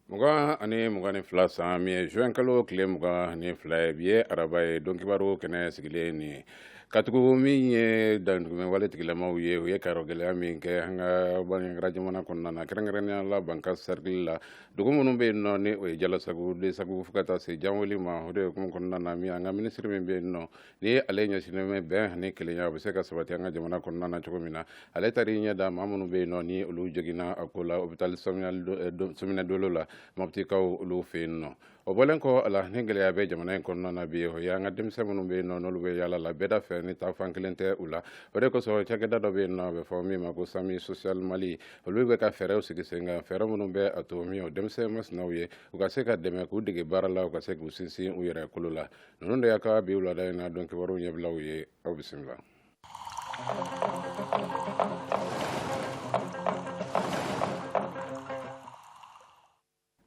mugan ani mugan ni fila san min ye juin kalo tile mugan ani fila ye bi ye araba ye don kibaru kɛnɛ sigilen nin ye katugu min ye damatɛmɛ wale tigilamaw ye u ye kayɔrɔ gɛlɛya min kɛ an ka banjagara jamana kɔnɔna na kɛrɛnkɛrɛnnenya la bankasi sɛrikili la dugu minnu bɛ yen nɔ ni o ye jalasagu desagu fo ka taa se janweli ma o de hukumu kɔnɔna na min an ka minisiri min bɛ yen nɔ ni ale ɲɛsinnen bɛ bɛn ani kelenya o bɛ se ka sabati an ka jamana kɔnɔna na cogo min na ale taar'i ɲɛ da maa minnu bɛ yen nɔ ni olu joginna a ko la hôpital Sominɛ Dolo la Moptikaw olu fɛ yen nɔ o bɔlen kɔ a la ni gɛlɛya bɛ jamana in kɔnɔna na bi o ye an ka denmisɛn minnu bɛ yen nɔ n'olu bɛ yaala la bɛda fɛ ni taafan kelen tɛ u la o de kosɔn cakɛda dɔ bɛ yen nɔ a bɛ fɔ min ma ko samu social mali olu bɛ ka fɛɛrɛw sigi sen kan fɛɛrɛ minnu bɛ a to min o denmisɛn masinaw ye u ka se ka dɛmɛ k'u dege baara la u ka se k'u sinsin u yɛrɛ kolo la ninnu de y'an ka bi wulada in na don kibaru ɲɛbilaw ye aw bisimila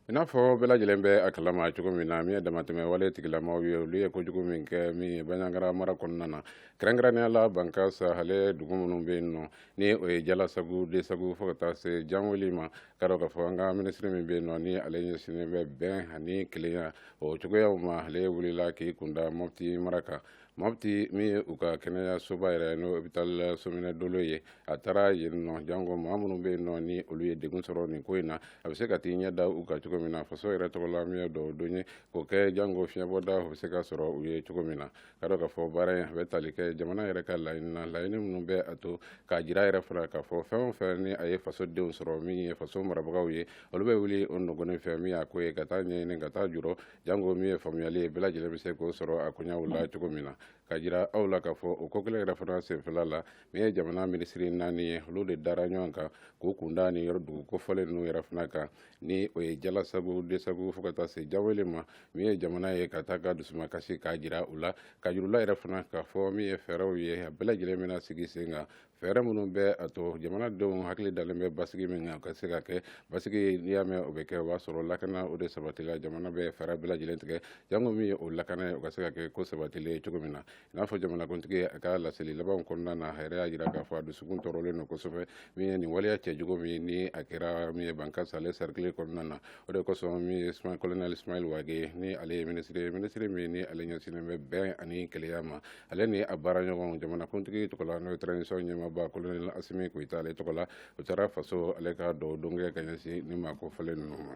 i n'a fɔ bɛɛ lajɛlen bɛ a kalama cogo min na min ye damatɛmɛ wale tigilamaw ye olu ye kojugu min kɛ min ye banjagara mara kɔnɔna na kɛrɛnkɛrɛnnenya la banka sahale dugu minnu bɛ yen nɔ ni o ye jalasagu desagu fo ka taa se janweli ma ka dɔn k'a fɔ an ka minisiri min bɛ yen nɔ ni ale ɲɛsinnen bɛ bɛn ani kelenya o cogoyaw ma ale wulila k'i kunda mɔpti mara kan mɔpti min ye u ka kɛnɛyasoba yɛrɛ n'o hôpital sominɛ dolo ye a taara yen nɔ janko maa minnu bɛ yen nɔ ni olu ye degun sɔrɔ nin ko in na a bɛ se ka t'i ɲɛ da u kan cogo min na faso yɛrɛ tɔgɔ la min ye dugaw don ye k'o kɛ janko fiɲɛbɔda o bɛ se ka sɔrɔ u ye cogo min na ka dɔn k'a fɔ baara in a bɛ tali kɛ jamana yɛrɛ ka laɲini na laɲini minnu bɛ a to k'a jira yɛrɛ fana k'a fɔ fɛn o fɛn ni a ye faso denw sɔrɔ min ye faso marabagaw ye olu bɛ wuli o nɔgɔnin fɛ min y'a ko ye ka taa ɲɛɲini ka taa jurɔ janko min ye faamuyali ye bɛɛ lajɛlen bɛ se k'o sɔrɔ a koɲaw la cogo min na k'a jira aw la k'a fɔ o ko kelen yɛrɛ fana senfɛla la min ye jamana minisiri naani ye olu de dara ɲɔgɔn kan k'u kun da nin yɔrɔ dugu kofɔlen ninnu yɛrɛ fana kan ni o ye jalasagu desagu fo ka taa se janweli ma min ye jamana ye ka taa ka dusumakasi k'a jira u la k'a jira u la yɛrɛ fana k'a fɔ min ye fɛɛrɛw ye a bɛɛ lajɛlen bɛna sigi sen kan fɛɛrɛ minnu bɛ a to jamanadenw hakili dalen bɛ basigi min kan ka se ka kɛ basigi n'i y'a mɛn o bɛ kɛ o b'a sɔrɔ lakana o de sabatila jamana bɛ fɛɛrɛ bɛɛ lajɛlen tigɛ jango min ye o lakana ye o ka se ka kɛ ko sabatilen ye cogo min na i n'a fɔ jamanakuntigi a ka laseli labanw kɔnɔna na a yɛrɛ y'a jira k'a fɔ a dusukun tɔɔrɔlen don kosɛbɛ min ye nin waleya cɛjugu min ni a kɛra min ye banka sale sɛrikili kɔnɔna na o de kosɔn min ye colonel ismail wage ni ale ye minisiri ye minisiri min ni ale ɲɛsinnen bɛ bɛn ani kelenya ma ale ni a baara ɲɔgɔn jamanakuntigi tɔgɔ la n'o ye transition ɲɛmaaba colonel asimi goyita ale tɔgɔ la u taara faso ale ka dugaw don kɛ ka ɲɛsin nin maa kofɔlen ninnu ma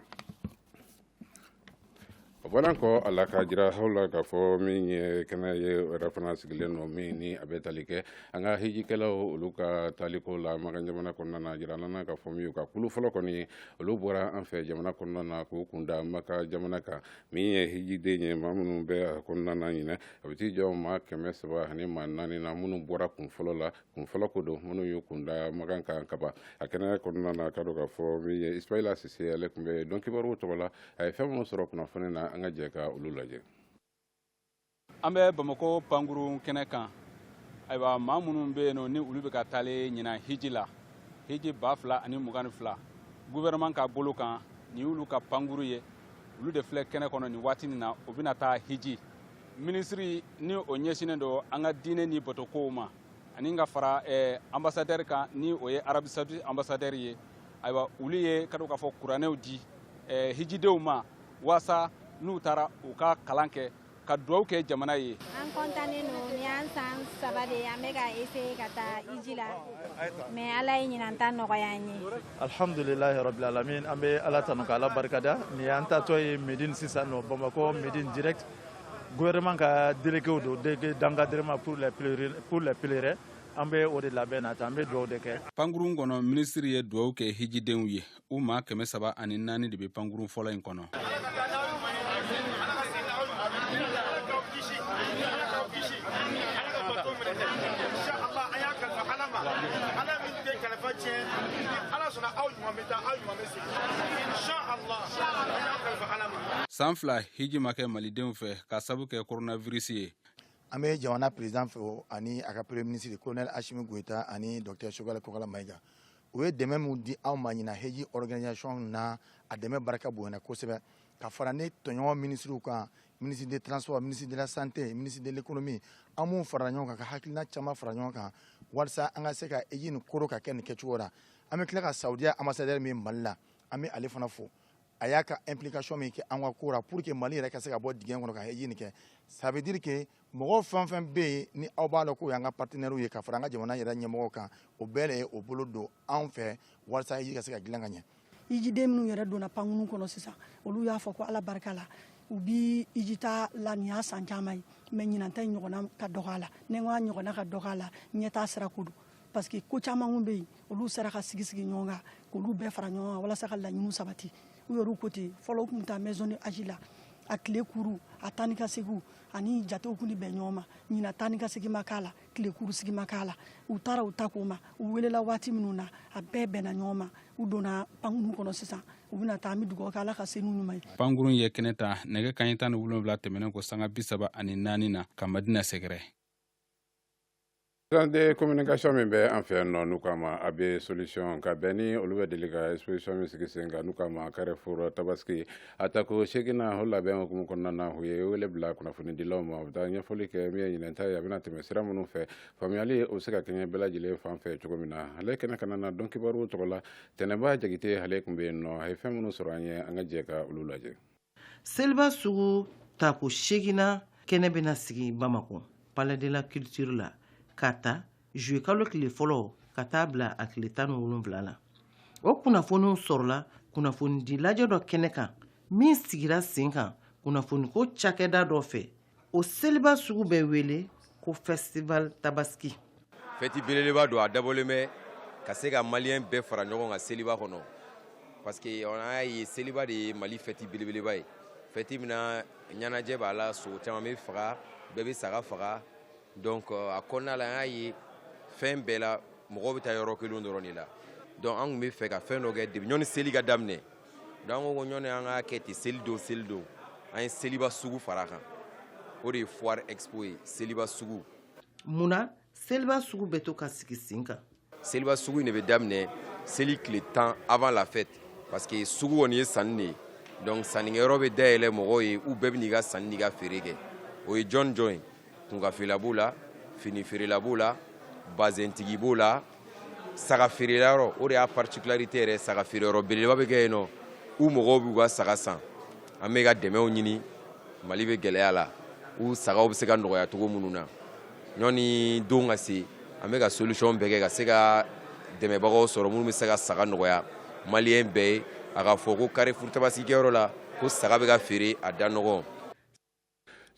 A bɔra kɔ a la ka jira aw la k'a fɔ min ye kɛnɛ ye yɛrɛ fana sigilen nɔ min ni a bɛ tali kɛ an ka hijikɛlaw olu ka taaliko la makan jamana kɔnɔna na jira an na k'a fɔ min ye ka kulu fɔlɔ kɔni olu bɔra an fɛ jamana kɔnɔna na k'u kunda makan jamana kan min ye hijiden ye maa minnu bɛ kɔnɔna na ɲinɛ a bɛ t'i jɔ maa kɛmɛ saba ani maa naani na minnu bɔra kun fɔlɔ la kun fɔlɔ ko don minnu y'u kun da makan kan kaban a kɛnɛ kɔnɔna na ka dɔn k'a fɔ min ye ismaila sise ale tun bɛ don kibaruw tɔgɔ la a ye fɛn minnu sɔrɔ kunnafoni na an ka jɛ ka olu lajɛ an bɛ bamako pankurun kɛnɛ kan ayiwa maa minnu bɛ yen nɔ ni olu bɛ ka taale ɲinan hiji la hiji ba fila ani mugan ni fila gouvernement ka bolo kan nin y'olu ka pankuru ye olu de filɛ kɛnɛ kɔnɔ nin waati nin na u bɛna taa hiji minisiri ni o ɲɛsinnen don an ka diinɛ ni batokow ma ani ka fara eh, ambasadɛri kan ni o ye arabi saudi ambasadɛri ye ayiwa olu ye ka dɔn k'a fɔ kuranɛw di eh, hijidenw ma waasa n'u taara u ka kalan kɛ ka dugawu kɛ jamana ye an kɔntannen don ni an san saba de ye an bɛ ka eseye ka taa iji la mɛ ala ye ɲinan ta nɔgɔya an ye Alhamdulillah rabbil alamin an bɛ ala tanu ka ala barikada nin y'an taatɔ ye Medine sisan nɔ Bamakɔ Medine direct gouvernement ka déléguéw don délégué d'encadrement pour pour les pèlerins an bɛ o de labɛn na tan an bɛ dugawu de kɛ. Pankurun kɔnɔ minisiri ye dugawu kɛ hijidenw ye u maa kɛmɛ saba ani naani de bɛ pankurun fɔlɔ in kɔnɔ. san fila hiji ma kɛ malidenw fɛ ka sabu kɛ coronavirus ye an bɛ jamana président fo ani a ka premier ministre colonel asimi goyita ani docteur sogɛlɛ kokala mayiga u ye dɛmɛ min di anw ma ɲina heji organisation na a dɛmɛ barika bonyana kosɛbɛ ka fara ne tɔɲɔgɔn minisiriw kan ministre de transport ministre de la santé ministre de l'économie an b'u fara ɲɔgɔn kan ka hakilina caman fara ɲɔgɔn kan walisa an ka se ka heji nin koro ka kɛ nin kɛcogo la an bɛ tila ka saudiya ambassadeur min mali la an bɛ ale fana fo a y'a ka implication min kɛ an ka ko la pour que mali yɛrɛ ka se ka bɔ dingɛ kɔnɔ ka heji nin kɛ ça veut dire que mɔgɔ fɛn fɛn bɛ yen ni aw b'a dɔn k'o y'an ka partenaires ye ka fara an ka jamana yɛrɛ ɲɛmɔgɔ kan o bɛɛ de ye o bolo don anw fɛ walasa iji ka se ka dilan ka ɲɛ ijiden minnu yɛrɛ donna pankunu kɔnɔ sisan olu y'a fɔ ko ala barika la u bi ijita la nin y'a san caman ye mɛ ɲinanta in ɲɔgɔnna ka dɔgɔ a la ni n ko a ɲɔgɔnna ka dɔgɔ a la ɲɛtaa sira ko don parce que ko caman kun bɛ yen olu sera ka sigi sigi ɲɔgɔn kan k'olu bɛɛ fara ɲɔgɔn kan walasa ka laɲiniw sabati u yɛrɛw ko ten fɔlɔ u tun bɛ taa maison du hadj la a tile kuru a taa ni ka segiw ani jatew kun bɛn ɲɔgɔn ma ɲinan taa ni ka segin ma k'a la tile kuru sigi ma k'a la u taara u ta k'o ma u welela waati minnu na a bɛɛ bɛnna ɲɔgɔn ma u donna pankuru kɔnɔ sisan u bɛna taa an bɛ dugawu kɛ ala ka se n'u ɲuman ye pankuru ye kɛnɛ ta nɛgɛ kaɲɛ tan ni wolonwula tɛmɛnen kɔ sanga bisaba ani naani na ka madina sɛgɛrɛ de communication min bɛ an fɛ yan nɔ n'u k'a ma AB solution ka bɛn ni olu bɛ deli ka exposition min sigi sen kan n'u k'a ma carrefour tabaski a tako seginna o labɛn hukumu kɔnɔna na u ye wele bila kunnafonidilaw ma u taa ɲɛfɔli kɛ min ye ɲinan ta ye a bɛna tɛmɛ sira minnu fɛ faamuyali o bɛ se ka kɛɲɛ bɛɛ lajɛlen fan fɛ cogo min na ale kɛnɛ kan na donkibaru tɔgɔ la tɛnɛnba jakite ale tun bɛ yen nɔ a ye fɛn minnu sɔrɔ an ye an ka jɛ ka olu lajɛ seliba sugu tako seginna kɛnɛ bɛna sigi bamakɔ palais de la culture la k'a ta juillet kalo tile fɔlɔ ka taa bila a tile tan ni wolonwula la o kunnafoniw sɔrɔla kunnafonidilajɛ dɔ kɛnɛ kan min sigira sen kan kunnafoniko cakɛda dɔ fɛ o seliba sugu bɛ wele ko festival tabaski fɛti belebeleba don a dabɔlen bɛ ka se ka maliyɛn bɛɛ fara ɲɔgɔn kan seliba kɔnɔ parce que an y'a ye seliba de ye mali fɛti belebeleba ye fɛti min na ɲɛnajɛ b'a la sogo caman bɛ faga bɛɛ bɛ saga faga donc euh, a kɔnɔna la an y'a ye fɛn bɛɛ la mɔgɔw bɛ taa yɔrɔ kelen dɔrɔn de la donc an tun bɛ fɛ ka fɛn dɔ kɛ depuis ɲɔni seli ka daminɛ Donc an ko ɲɔni an k'a kɛ ten seli don seli don an ye seliba sugu fara kan o de ye foire expo ye seliba sugu munna seliba sugu bɛ to ka sigi sen kan seliba sugu in de bɛ daminɛ seli tile tan avant la fête parce que sugu kɔni ye sanni de ye donc sannikɛyɔrɔ bɛ dayɛlɛ mɔgɔw ye u bɛɛ bɛ n'i ka sanni n'i ka feere kɛ o ye jɔn jɔn ye kunkan feerela b'o la fini feerela b'o la bazɛntigi b'o la saga feerela yɔrɔ o de y'a particularité yɛrɛ saga feere yɔrɔ belebeleba bɛ kɛ yen nɔ u mɔgɔw b'u ka saga san an bɛ ka dɛmɛw ɲini mali bɛ gɛlɛya la u sagaw bɛ se ka nɔgɔya cogo minnu na ɲɔni don ka se an bɛ ka solution bɛɛ kɛ ka se ka dɛmɛbagaw sɔrɔ minnu bɛ se ka saga nɔgɔya maliyɛn bɛɛ ye a ka fɔ ko carrefour tabaski kɛyɔrɔ la ko saga bɛ ka feere a da nɔgɔn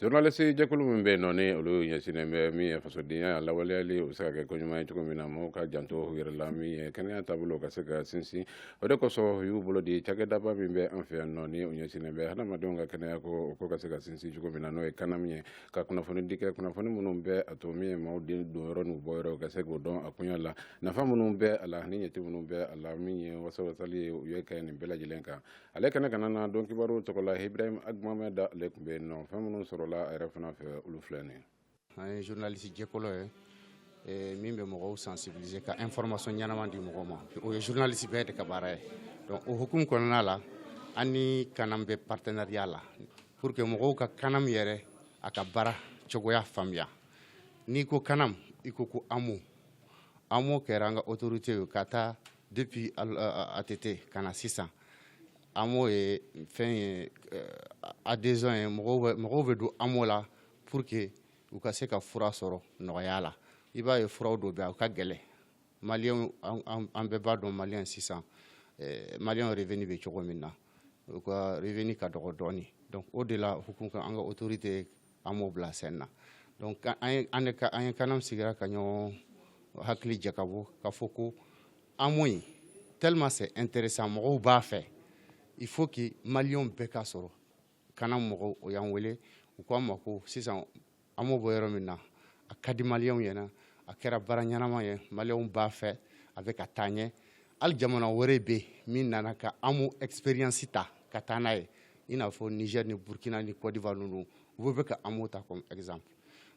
journaliste jɛkulu min bɛ yen nɔ ni olu ɲɛsinnen bɛ min ye fasodenya lawaleyali o bɛ se ka kɛ ko ɲuman ye cogo min na mɔgɔw ka janto u yɛrɛ la min ye kɛnɛya taabolo ka se ka sinsin o de kosɔn u y'u bolo di cakɛdaba min bɛ an fɛ yan nɔ ni o ɲɛsinnen bɛ hadamadenw ka kɛnɛya ko o ko ka se ka sinsin cogo min na n'o ye CANAM ye ka kunnafoni di kɛ kunnafoni minnu bɛ a to min ye maaw den don yɔrɔ n'u bɔ yɔrɔ ka se k'o dɔn a kunya la nafa minnu bɛ a la ani ɲɛci minnu bɛ a la min ye wasawasali ye u ye kɛ nin bɛɛ lajɛlen kan ale kɛnɛ kana na dɔn kibaru tɔgɔ la ibrahim ag mohamed ale tun bɛ yen nɔ fɛn minnu sɔrɔla a yɛrɛ fana fɛ olu filɛ nin an ye journaliste jɛkulu ye eh, min bɛ mɔgɔw sensibiliser ka information ɲɛnama di mɔgɔw ma o ye journaliste bɛɛ de ka baara ye donc o hukumu kɔnɔna la an ni canam bɛ partenariat la pour que mɔgɔw ka canam yɛrɛ a ka baara cogoya faamuya n'i ko canam i ko ko amo amo kɛra an ka autorité ye ka taa Depuis ATT ka na sisan AMO ye fɛn ye adhésion ye mɔgɔw bɛ don AMO la pour que u ka se ka fura sɔrɔ nɔgɔya la i b'a ye furaw dɔw bɛ yen u ka gɛlɛn maliyɛnw an bɛɛ b'a dɔn maliyɛn sisan maliyɛnw revenu bɛ cogo min na u ka revenu ka dɔgɔ dɔɔnin donc o de la hukumu kɔnɔ an ka autorité amo bila sen na donc an ye canam sigira ka ɲɔgɔn hakili jakabɔ ka fɔ ko amo in tellement c'est intéressant mɔgɔw b'a fɛ il faut que maliyɛnw bɛɛ k'a sɔrɔ canam mɔgɔw u y'an wele u ko an ma ko sisan amo bɛ yɔrɔ min na a ka di maliyɛnw ɲɛna a kɛra baara ɲɛnama ye maliyɛnw b'a fɛ a bɛ ka taa ɲɛ hali jamana wɛrɛ bɛ yen min nana ka amo expérience ta ka taa n'a ye i n'a fɔ niger ni burkina ni côte d'ivoire ninnu u bɛ ka amo ta comme exemple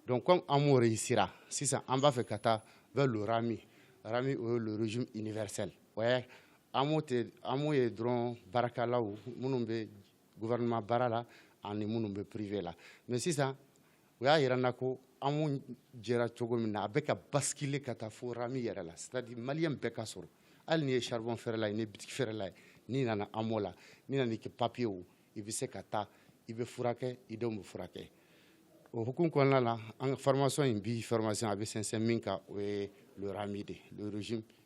donc comme amo réussira sisan an b'a fɛ ka taa vers le ramu ramu o ye le régime universel o ye amo tɛ amo ye dɔrɔn baarakɛlaw minnu bɛ gouvernement baara la ani minnu bɛ privé la mais sisan u y'a yira an na ko amo jɛra cogo min na a bɛ ka basculer ka taa fo ramu yɛrɛ la c'est à dire maliyɛn bɛɛ k'a sɔrɔ hali n'i ye charbon feerela ye n'i ye bitiki feerela ye n'i nana amo la n'i nana i ka papiyew i bɛ se ka taa i bɛ furakɛ i denw bɛ furakɛ o hukumu kɔnɔna la an ka formation in bi formation a bɛ sinsin min kan o ye le ramu de le régime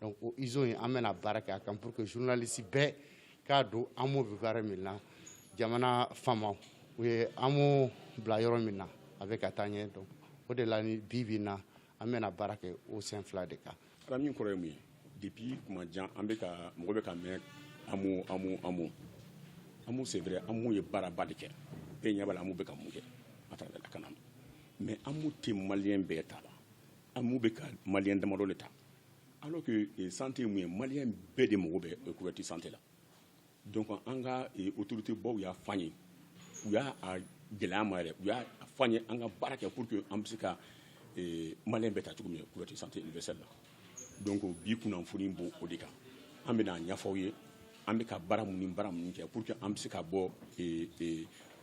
donc o iso in an bɛna baara kɛ a kan pour que journaliste bɛɛ k'a don amo bɛ baara min na jamana faamaw u ye amo bila yɔrɔ min na a bɛ ka taa ɲɛ donc o de la ni bi bi in na an bɛna baara kɛ o sen fila de kan. ala min kɔrɔ ye mun ye depuis tuma jan an bɛ ka mɔgɔ bɛ k'a mɛn amo amo amo amo c'est vrai amo ye baaraba de kɛ bɛɛ ɲɛ b'a la amo bɛ ka mun kɛ à travers la canam mais amo tɛ maliyɛn bɛɛ ta la. Amo bɛ ka maliyɛn damadɔ de ta alors que santé ye mun ye maliyɛn bɛɛ de mago bɛ couverture santé la donc an ka autorité baw y'a f'an ye u y'a gɛlɛya an ma yɛrɛ u y'a f'an ye an ka baara kɛ pour que an bɛ se ka maliyɛn bɛɛ ta cogo min couverture santé universelle la donc bi kunnafoni b'o de kan an bɛna a ɲɛfɔ aw ye an bɛ ka baara minnu baara minnu kɛ pour que an bɛ se ka bɔ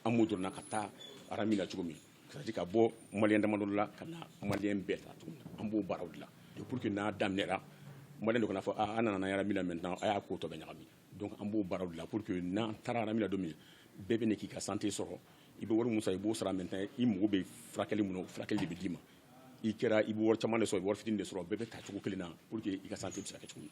amo dɔrɔn na ka taa ramu na cogo min C'est-à-dire ka bɔ maliyɛn damadɔ la ka na maliyɛn bɛɛ ta an b'o baaraw la pour que n'a daminɛna maliyɛn dɔ kana fɔ an nana RAMU maintenant a y'a ko tɔ bɛɛ ɲagami donc an b'o baaraw la pour que n'an taara RAMU la don min bɛɛ bɛ k'i ka santé sɔrɔ i bɛ wari min sara i b'o sara maintenant i mago bɛ furakɛli min na furakɛli de bɛ d'i ma i kɛra i bɛ wari caman de sɔrɔ i bɛ wari fitinin de sɔrɔ bɛɛ bɛ ta cogo kelen na pour que i ka santé bɛ se ka kɛ cogo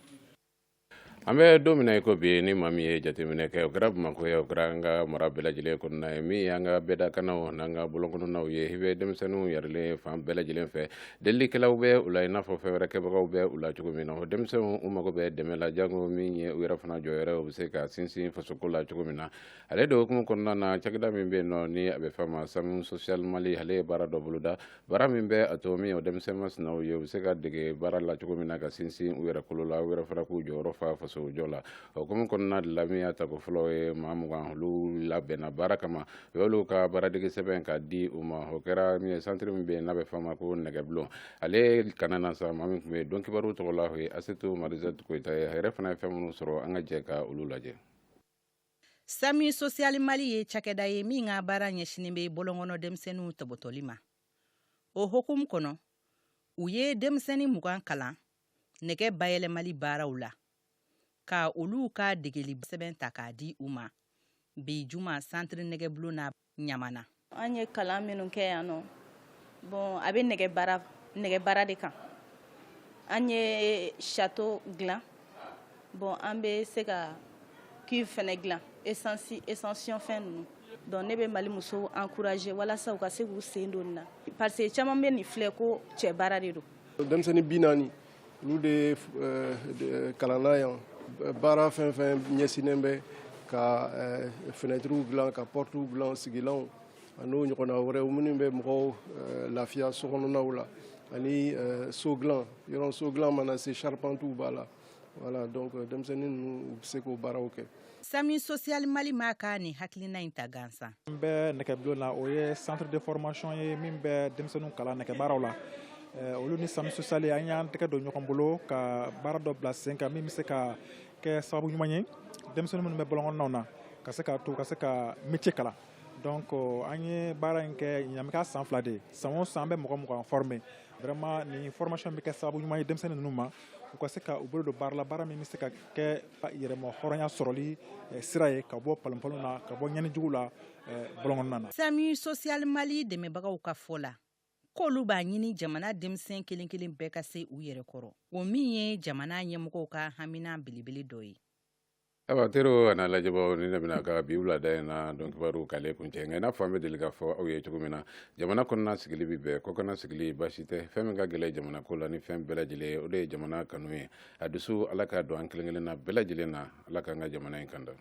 An bɛ don min na i ko bi ni maa min ye jateminɛ kɛ o kɛra Bamakɔ ye o kɛra an ka mara bɛɛ lajɛlen kɔnɔna ye min y'an ka bɛdakannaw n'an ka bɔlɔnkɔnɔnaw ye i bɛ denmisɛnninw yɛrɛlen fan bɛɛ lajɛlen fɛ delilikɛlaw bɛ u la i n'a fɔ fɛn wɛrɛ kɛbagaw bɛ u la cogo min na o denmisɛnw u mago bɛ dɛmɛ la jango min ye u yɛrɛ fana jɔyɔrɔ ye u bɛ se ka sinsin fasoko la cogo min na ale de hukumu kɔnɔna na cakɛda min bɛ yen nɔ ni a bɛ f'a ma SAMU Social Mali ale ye baara dɔ boloda Baara min bɛ a to min o denmisɛnnin masinaw ye u bɛ se ka dege baara la cogo min na ka sinsin u yɛrɛ kolo la u yɛrɛ fana k'u jɔyɔrɔ fa faso jɔ la o hukumu kɔnɔna de la min y'a tako fɔlɔ ye maa mugan olu labɛnna baara kama u y'olu ka baaradege sɛbɛn ka di u ma o kɛra min ye centre min bɛ yen n'a bɛ f'a ma ko nɛgɛbulon ale kana na sa maa min tun bɛ yen dɔnkibaru tɔgɔ la o ye asetu marizɛti koyita ye a yɛrɛ fana ye fɛn minnu sɔrɔ an ka jɛ ka olu lajɛ SAMU social Mali ye cakɛda ye min ka baara ɲɛsinnen bɛ bɔlɔnkɔnɔ denmisɛnninw tɔbɔtɔli ma o hukumu kɔnɔ u ye denmisɛnnin mugan kalan nɛgɛ bayɛlɛmali baaraw la ka olu ka degeli sɛbɛn ta k'a di u ma bi juma centre nɛgɛbulon na Ɲamana an ye kalan minnu kɛ yan nɔ bon a bɛ nɛgɛ baara de kan an ye château dilan bon an bɛ se ka cuve fɛnɛ dilan essence station fɛn ninnu donc ne bɛ mali musow encourager walasa u ka se k'u sen don nin na parce que caman bɛ nin filɛ ko cɛ baara de don denmisɛnnin bi naani olu de kalanna yan baara fɛn fɛn ɲɛsinnen bɛ ka fenêtrew dilan ka portew dilan sigilanw an'o ɲɔgɔnna wɛrɛw minnu bɛ mɔgɔw lafiya sokɔnɔnaw la ani so dilan yɔrɔ so dilan mana se charpentew b'a la voilà donc denmisɛnnin ninnu u bɛ se k'o baaraw kɛ SAMU social Mali ma ka nin hakilina in ta gansan n bɛ nɛgɛbulon na o ye centre de formation ye min bɛ denmisɛnninw kalan nɛgɛ baaraw la eh, olu ni SAMU social an y'an tɛgɛ don ɲɔgɔn bolo ka baara dɔ bila sen kan min bɛ se ka kɛ sababu ɲuman ye denmisɛnnin minnu bɛ bɔlɔnkɔnɔnaw na ka se ka to ka se ka métier kalan donc euh, an ye baara in kɛ ɲamika san fila de san o san an bɛ mɔgɔ mugan former vraiment nin formation bɛ kɛ sababu ɲuman ye denmisɛnnin ninnu ma u ka se ka u bolo don baara la baara min bɛ se ka kɛ yɛrɛma hɔrɔnya sɔrɔli eh, sira ye ka bɔ palonpalon na ka bɔ ɲɛnijugu la eh, bɔlɔnkɔnɔna na. SAMU social Mali dɛmɛbagaw ka fɔ la k'olu b'a ɲini jamana denmisɛn kelen kelen bɛɛ ka se u yɛrɛ kɔrɔ o min ye jamana ɲɛmɔgɔw ka hamina belebele dɔ ye ayiwa teriw an'a lajɛbaaw ni ne bɛna ka bi wulada in na donkibaru k'ale kuncɛ nka i n'a fɔ an bɛ deli k'a fɔ aw ye cogo min na jamana kɔnɔna sigili bɛ bɛɛ kɔkana sigili baasi tɛ fɛn min ka gɛlɛn jamana ko la ni fɛn bɛɛ lajɛlen ye o de ye jamana kanu ye a dusu ala k'a don an kelen kelen na bɛɛ lajɛlen na ala k'an ka jamana in kanda